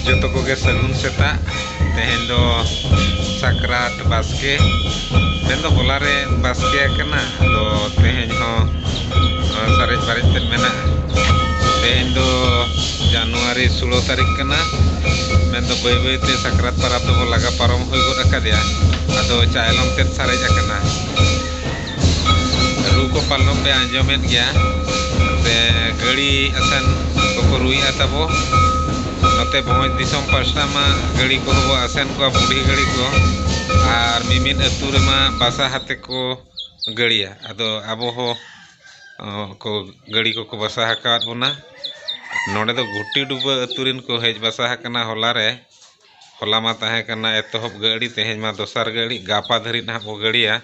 ᱡᱚᱛᱚ ᱠᱚᱜᱮ ᱥᱟᱹᱜᱩᱱ ᱥᱮᱛᱟᱜ ᱛᱮᱦᱮᱧ ᱫᱚ ᱥᱟᱠᱨᱟᱛ ᱵᱟᱥᱠᱮ ᱛᱮᱦᱮᱧ ᱫᱚ ᱦᱚᱞᱟ ᱨᱮ ᱵᱟᱥᱠᱮ ᱟᱠᱟᱱᱟ ᱟᱫᱚ ᱛᱮᱦᱮᱧ ᱦᱚᱸ ᱥᱟᱨᱮᱡ ᱵᱟᱨᱮᱡ ᱛᱮ ᱢᱮᱱᱟᱜᱼᱟ ᱛᱮᱦᱮᱧ ᱫᱚ ᱡᱟᱱᱩᱣᱟᱨᱤ ᱥᱳᱞᱳ ᱛᱟᱹᱨᱤᱠᱷ ᱠᱟᱱᱟ ᱢᱮᱱᱫᱚ ᱵᱟᱹᱭ ᱵᱟᱹᱭᱛᱮ ᱥᱟᱠᱨᱟᱛ ᱯᱟᱨᱟᱵᱽ ᱫᱚᱵᱚ ᱞᱟᱜᱟ ᱯᱟᱨᱚᱢ ᱦᱩᱭ ᱜᱚᱫ ᱟᱠᱟᱫᱮᱭᱟ ᱟᱫᱚ ᱪᱟᱭᱞᱚᱢ ᱛᱮᱫ ᱥᱟᱨᱮᱡ ᱟᱠᱟᱱᱟ ᱨᱩ ᱠᱚ ᱯᱟᱞᱮᱱ ᱯᱮ ᱟᱸᱡᱚᱢᱮᱫ ᱜᱮᱭᱟ ᱥᱮ ᱜᱟᱹᱲᱤ ᱟᱥᱮᱱ ᱠᱚᱠᱚ ᱨᱩᱭᱮᱫᱼᱟ ᱛᱟᱵᱚ ᱱᱚᱛᱮ ᱵᱷᱚᱸᱡᱽ ᱫᱤᱥᱚᱢ ᱯᱟᱥᱴᱟ ᱢᱟ ᱜᱟᱹᱲᱤ ᱠᱚᱦᱚᱸ ᱵᱚ ᱟᱥᱮᱱ ᱠᱚᱣᱟ ᱵᱩᱰᱷᱤ ᱜᱟᱹᱲᱤ ᱠᱚ ᱟᱨ ᱢᱤᱢᱤᱫ ᱟᱹᱛᱩ ᱨᱮᱢᱟ ᱵᱟᱥᱟ ᱟᱛᱮ ᱠᱚ ᱜᱟᱹᱲᱤᱭᱟ ᱟᱫᱚ ᱟᱵᱚ ᱦᱚᱸ ᱠᱚ ᱜᱟᱹᱲᱤ ᱠᱚᱠᱚ ᱵᱟᱥᱟ ᱟᱠᱟᱫ ᱵᱚᱱᱟ ᱱᱚᱰᱮ ᱫᱚ ᱜᱷᱩᱴᱤ ᱰᱩᱵᱟᱹ ᱟᱹᱛᱩ ᱨᱮᱱ ᱠᱚ ᱦᱮᱡ ᱵᱟᱥᱟ ᱟᱠᱟᱱᱟ ᱦᱚᱞᱟ ᱨᱮ ᱦᱚᱞᱟ ᱢᱟ ᱛᱟᱦᱮᱸ ᱠᱟᱱᱟ ᱮᱛᱚᱦᱚᱵ ᱜᱟᱹᱲᱤ ᱛᱮᱦᱮᱧ ᱢᱟ ᱫᱚᱥᱟᱨ ᱜᱟᱹᱲᱤ ᱜᱟᱯᱟ ᱫᱷᱟᱹᱨᱤᱡ ᱱᱟᱦᱟᱜ ᱵᱚ ᱜᱟᱹᱲᱤᱭᱟ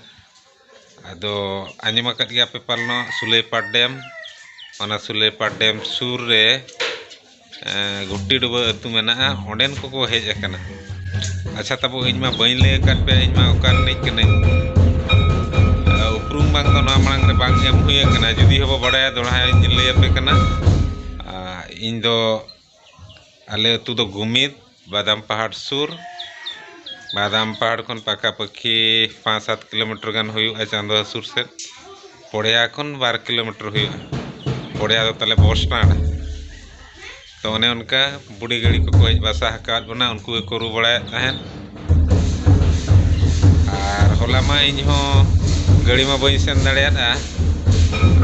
ᱟᱫᱚ ᱟᱸᱡᱚᱢ ᱟᱠᱟᱫ ᱜᱮᱭᱟ ᱯᱮ ᱯᱟᱞᱮᱱᱚᱜ ᱥᱩᱞᱟᱹᱭᱯᱟᱲ ᱰᱮᱢ ᱚᱱᱟ ᱥᱩᱞᱟᱹᱭᱯᱟᱲ ᱰᱮᱢ ᱥᱩᱨ ᱨᱮ ᱜᱷᱩᱴᱤ ᱰᱩᱵᱟᱹ ᱟᱹᱛᱩ ᱢᱮᱱᱟᱜᱼᱟ ᱚᱸᱰᱮᱱ ᱠᱚᱠᱚ ᱦᱮᱡ ᱟᱠᱟᱱᱟ ᱟᱪᱪᱷᱟ ᱛᱟᱵᱚ ᱤᱧ ᱢᱟ ᱵᱟᱹᱧ ᱞᱟᱹᱭ ᱟᱠᱟᱫ ᱯᱮ ᱤᱧ ᱢᱟ ᱚᱠᱟ ᱨᱤᱱᱤᱡ ᱠᱟᱹᱱᱟᱹᱧ ᱩᱯᱨᱩᱢ ᱵᱟᱝ ᱫᱚ ᱱᱚᱣᱟ ᱢᱟᱲᱟᱝ ᱨᱮ ᱵᱟᱝ ᱮᱢ ᱦᱩᱭ ᱟᱠᱟᱱᱟ ᱡᱩᱫᱤ ᱦᱚᱸᱵᱚ ᱵᱟᱲᱟᱭᱟ ᱫᱚᱦᱲᱟᱧ ᱞᱟᱹᱭᱟᱯᱮ ᱠᱟᱱᱟ ᱤᱧ ᱫᱚ ᱟᱞᱮ ᱟᱹᱛᱩ ᱫᱚ ᱜᱩᱢᱤᱫ ᱵᱟᱫᱟᱢ ᱯᱟᱦᱟᱲ ᱥᱩᱨ ᱵᱟᱫᱟᱢ ᱯᱟᱦᱟᱲ ᱠᱷᱚᱱ ᱯᱟᱠᱟ ᱯᱟᱹᱠᱷᱤ ᱯᱟᱸᱪ ᱥᱟᱛ ᱠᱤᱞᱳᱢᱤᱴᱟᱨ ᱜᱟᱱ ᱦᱩᱭᱩᱜᱼᱟ ᱪᱟᱸᱫᱚ ᱦᱟᱹᱥᱩᱨ ᱥᱮᱫ ᱯᱚᱲᱭᱟ ᱠᱷᱚᱱ ᱵᱟᱨ ᱠᱤᱞᱳᱢᱤᱴᱟᱨ ᱦᱩᱭᱩᱜᱼᱟ ᱯᱚᱲᱭᱟ ᱫᱚ ᱛᱟᱞᱮ ᱵᱚᱥ ᱥᱴᱮᱱᱰ ᱛᱚ ᱚᱱᱮ ᱚᱱᱠᱟ ᱵᱩᱰᱷᱤ ᱜᱟᱹᱲᱤ ᱠᱚᱠᱚ ᱦᱮᱡ ᱵᱟᱥᱟ ᱟᱠᱟᱫ ᱵᱚᱱᱟ ᱩᱱᱠᱩ ᱜᱮᱠᱚ ᱨᱩ ᱵᱟᱲᱟᱭᱮᱫ ᱛᱟᱦᱮᱸᱫ ᱟᱨ ᱦᱚᱞᱟ ᱢᱟ ᱤᱧ ᱦᱚᱸ ᱜᱟᱹᱲᱤ ᱢᱟ ᱵᱟᱹᱧ ᱥᱮᱱ ᱫᱟᱲᱮᱭᱟᱫᱼᱟ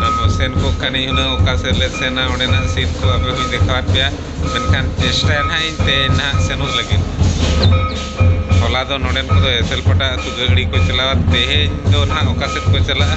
ᱟᱫᱚ ᱥᱮᱱ ᱠᱚᱜ ᱠᱷᱟᱱᱤᱧ ᱦᱩᱱᱟᱹᱝ ᱚᱠᱟ ᱥᱮᱫ ᱞᱮ ᱥᱮᱱᱟ ᱚᱸᱰᱮᱱᱟᱜ ᱥᱤᱱ ᱠᱚ ᱟᱯᱮ ᱦᱚᱸᱧ ᱫᱮᱠᱷᱟᱣᱟᱫ ᱯᱮᱭᱟ ᱢᱮᱱᱠᱷᱟᱱ ᱪᱮᱥᱴᱟᱭᱟ ᱱᱟᱦᱟᱜ ᱤᱧ ᱛᱮᱦᱮᱧ ᱱᱟᱦᱟᱜ ᱥᱮᱱᱚᱜ ᱞᱟᱹᱜᱤᱫ ᱦᱚᱞᱟ ᱫᱚ ᱱᱚᱰᱮᱱ ᱠᱚᱫᱚ ᱮᱥᱮᱞ ᱯᱟᱴᱟ ᱟᱹᱛᱩ ᱜᱟᱹᱲᱤ ᱠᱚ ᱪᱟᱞᱟᱣᱟ ᱛᱮᱦᱮᱧ ᱫᱚ ᱱᱟᱦᱟᱜ ᱚᱠᱟ ᱥᱮᱫ ᱠᱚ ᱪᱟᱞᱟᱜᱼᱟ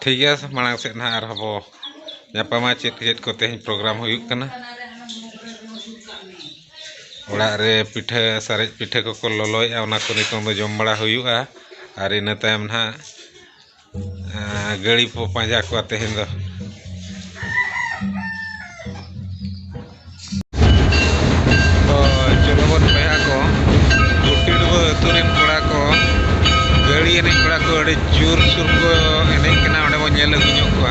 ᱴᱷᱤᱠ ᱜᱮᱭᱟ ᱢᱟᱲᱟᱝ ᱥᱮᱫ ᱱᱟᱦᱟᱜ ᱟᱨᱦᱚᱸ ᱵᱚ ᱧᱟᱯᱟᱢᱟ ᱪᱮᱫ ᱪᱮᱫ ᱠᱚ ᱛᱮᱦᱮᱧ ᱯᱨᱳᱜᱨᱟᱢ ᱦᱩᱭᱩᱜ ᱠᱟᱱᱟ ᱚᱲᱟᱜ ᱨᱮ ᱯᱤᱴᱷᱟᱹ ᱥᱟᱨᱮᱡ ᱯᱤᱴᱷᱟᱹ ᱠᱚᱠᱚ ᱞᱚᱞᱚᱭᱮᱜᱼᱟ ᱚᱱᱟ ᱠᱚ ᱱᱤᱛᱚᱝ ᱫᱚ ᱡᱚᱢ ᱵᱟᱲᱟ ᱦᱩᱭᱩᱜᱼᱟ ᱟᱨ ᱤᱱᱟᱹ ᱛᱟᱭᱚᱢ ᱱᱟᱦᱟᱜ ᱜᱟᱹᱲᱤ ᱵᱚ ᱯᱟᱸᱡᱟ ᱠᱚᱣᱟ ᱛᱮᱦᱮᱧ ᱫᱚ ᱛᱚ ᱪᱚᱞᱚ ᱵᱚᱱ ᱵᱚᱭᱦᱟ ᱠᱚ ᱜᱩᱴᱤ ᱰᱩᱵᱟᱹ ᱟᱹᱛᱩ ᱨᱮᱱ ᱠᱚᱲᱟ ᱠᱚ ᱜᱟᱹᱲᱤ ᱮᱱᱮᱡ ᱠᱚᱲᱟ ᱠᱚ ᱟᱹᱰᱤ ᱡᱳᱨ ᱥᱳᱨ ᱠᱚ ᱮᱱᱮᱡ ᱠᱟᱱᱟ ᱚᱸᱰᱮ ᱵᱚᱱ ᱧᱮᱞ ᱟᱹᱜᱩ ᱧᱚᱜ ᱠᱚᱣᱟ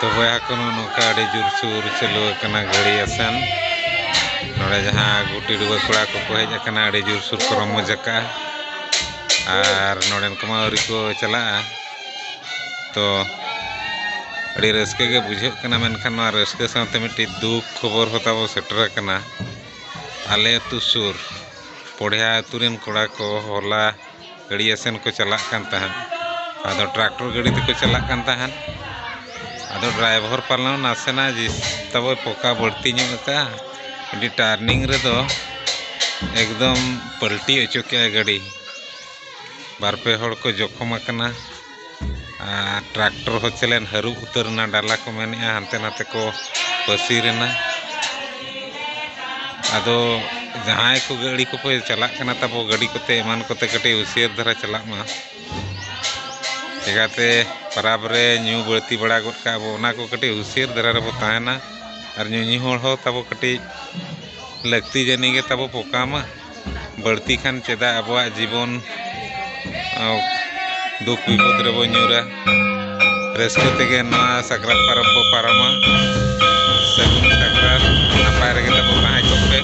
ᱛᱚ ᱵᱚᱭᱦᱟ ᱠᱚ ᱱᱚᱝᱠᱟ ᱟᱹᱰᱤ ᱡᱳᱨᱥᱳᱨ ᱪᱟᱹᱞᱩ ᱟᱠᱟᱱᱟ ᱜᱷᱟᱹᱲᱤ ᱟᱥᱮᱱ ᱱᱚᱰᱮ ᱡᱟᱦᱟᱸ ᱜᱩᱴᱤ ᱰᱩᱵᱟᱹ ᱠᱚᱲᱟ ᱠᱚᱠᱚ ᱦᱮᱡ ᱟᱠᱟᱱᱟ ᱟᱹᱰᱤ ᱡᱳᱨᱥᱳᱨ ᱠᱚ ᱨᱚᱢᱚᱡᱽ ᱟᱠᱟᱜᱼᱟ ᱟᱨ ᱱᱚᱰᱮᱱ ᱠᱚᱢᱟ ᱟᱹᱣᱨᱤ ᱠᱚ ᱪᱟᱞᱟᱜᱼᱟ ᱛᱚ ᱟᱹᱰᱤ ᱨᱟᱹᱥᱠᱟᱹ ᱜᱮ ᱵᱩᱡᱷᱟᱹᱜ ᱠᱟᱱᱟ ᱢᱮᱱᱠᱷᱟᱱ ᱱᱚᱣᱟ ᱨᱟᱹᱥᱠᱟᱹ ᱥᱟᱶᱛᱮ ᱢᱤᱫᱴᱤᱡ ᱫᱩᱠ ᱠᱷᱚᱵᱚᱨ ᱦᱚᱸ ᱛᱟᱵᱚ ᱥᱮᱴᱮᱨ ᱟᱠᱟᱱᱟ ᱟᱞᱮ ᱟᱹᱛᱩ ᱥᱩᱨ ᱯᱚᱲᱭᱟ ᱟᱹᱛᱩ ᱨᱮᱱ ᱠᱚᱲᱟ ᱠᱚ ᱦᱚᱞᱟ ᱜᱟᱹᱲᱭᱟᱹ ᱥᱮᱱ ᱠᱚ ᱪᱟᱞᱟᱜ ᱠᱟᱱ ᱛᱟᱦᱮᱸᱫ ᱟᱫᱚ ᱴᱨᱟᱠᱴᱚᱨ ᱜᱟᱹᱰᱤ ᱛᱮᱠᱚ ᱪᱟᱞᱟᱜ ᱠᱟᱱ ᱛᱟᱦᱮᱸᱫ ᱟᱫᱚ ᱰᱨᱟᱭᱵᱷᱚᱨ ᱯᱟᱞᱮᱱ ᱱᱟᱥᱮᱱᱟᱜ ᱛᱟᱵᱚ ᱯᱚᱠᱟ ᱵᱟᱹᱲᱛᱤ ᱧᱚᱜ ᱟᱠᱟᱫᱼᱟ ᱟᱹᱰᱤ ᱴᱟᱨᱱᱤᱝ ᱨᱮᱫᱚ ᱮᱠᱫᱚᱢ ᱯᱟᱹᱞᱴᱤ ᱦᱚᱪᱚ ᱠᱮᱫᱼᱟᱭ ᱜᱟᱹᱰᱤ ᱵᱟᱨ ᱯᱮ ᱦᱚᱲ ᱠᱚ ᱡᱚᱠᱷᱚᱢ ᱟᱠᱟᱱᱟ ᱟᱨ ᱴᱨᱟᱠᱴᱚᱨ ᱦᱚᱸ ᱪᱮᱞᱮᱱ ᱦᱟᱹᱨᱩᱵ ᱩᱛᱟᱹᱨ ᱮᱱᱟ ᱰᱟᱞᱟ ᱠᱚ ᱢᱮᱱᱮᱜᱼᱟ ᱦᱟᱱᱛᱮ ᱱᱟᱛᱮ ᱠᱚ ᱯᱟᱹᱥᱤᱨ ᱮᱱᱟ ᱟᱫᱚ ᱡᱟᱦᱟᱸᱭ ᱠᱚ ᱜᱟᱹᱰᱤ ᱠᱚᱯᱮ ᱪᱟᱞᱟᱜ ᱠᱟᱱᱟ ᱛᱟᱵᱚ ᱜᱟᱹᱰᱤ ᱠᱚᱛᱮ ᱮᱢᱟᱱ ᱠᱚᱛᱮ ᱠᱟᱹᱴᱤᱡ ᱦᱩᱥᱭᱟᱹᱨ ᱫᱷᱟᱨᱟ ᱪᱟᱞᱟᱜ ᱢᱟ ᱪᱤᱠᱟᱹᱛᱮ ᱯᱟᱨᱟᱵᱽ ᱨᱮ ᱧᱩ ᱵᱟᱹᱲᱛᱤ ᱵᱟᱲᱟ ᱜᱚᱫ ᱠᱟᱜᱼᱟ ᱵᱚ ᱚᱱᱟ ᱠᱚ ᱠᱟᱹᱴᱤᱡ ᱦᱩᱥᱭᱟᱹᱨ ᱫᱷᱟᱨᱟ ᱨᱮᱵᱚ ᱛᱟᱦᱮᱱᱟ ᱟᱨ ᱧᱩᱧᱩ ᱦᱚᱲ ᱦᱚᱸ ᱛᱟᱵᱚ ᱠᱟᱹᱴᱤᱡ ᱞᱟᱹᱠᱛᱤ ᱡᱟᱹᱱᱤᱡ ᱜᱮ ᱛᱟᱵᱚ ᱯᱚᱠᱟᱢᱟ ᱵᱟᱹᱲᱛᱤ ᱠᱷᱟᱱ ᱪᱮᱫᱟᱜ ᱟᱵᱚᱣᱟᱜ ᱡᱤᱵᱚᱱ ᱫᱩᱠ ᱵᱤᱯᱚᱫ ᱨᱮᱵᱚ ᱧᱩᱨᱟ ᱨᱟᱹᱥᱠᱟᱹ ᱛᱮᱜᱮ ᱱᱚᱣᱟ ᱥᱟᱠᱨᱟᱛ ᱯᱚᱨᱚᱵᱽ ᱵᱚ ᱯᱟᱨᱚᱢᱟ ᱥᱟᱹᱜᱩᱱ ᱥᱟᱠᱨᱟᱛ ᱱᱟᱯᱟᱭ ᱨᱮᱜᱮ ᱛᱟᱵᱚ ᱛᱟᱦᱮᱸ ᱠᱚᱜ ᱯᱮ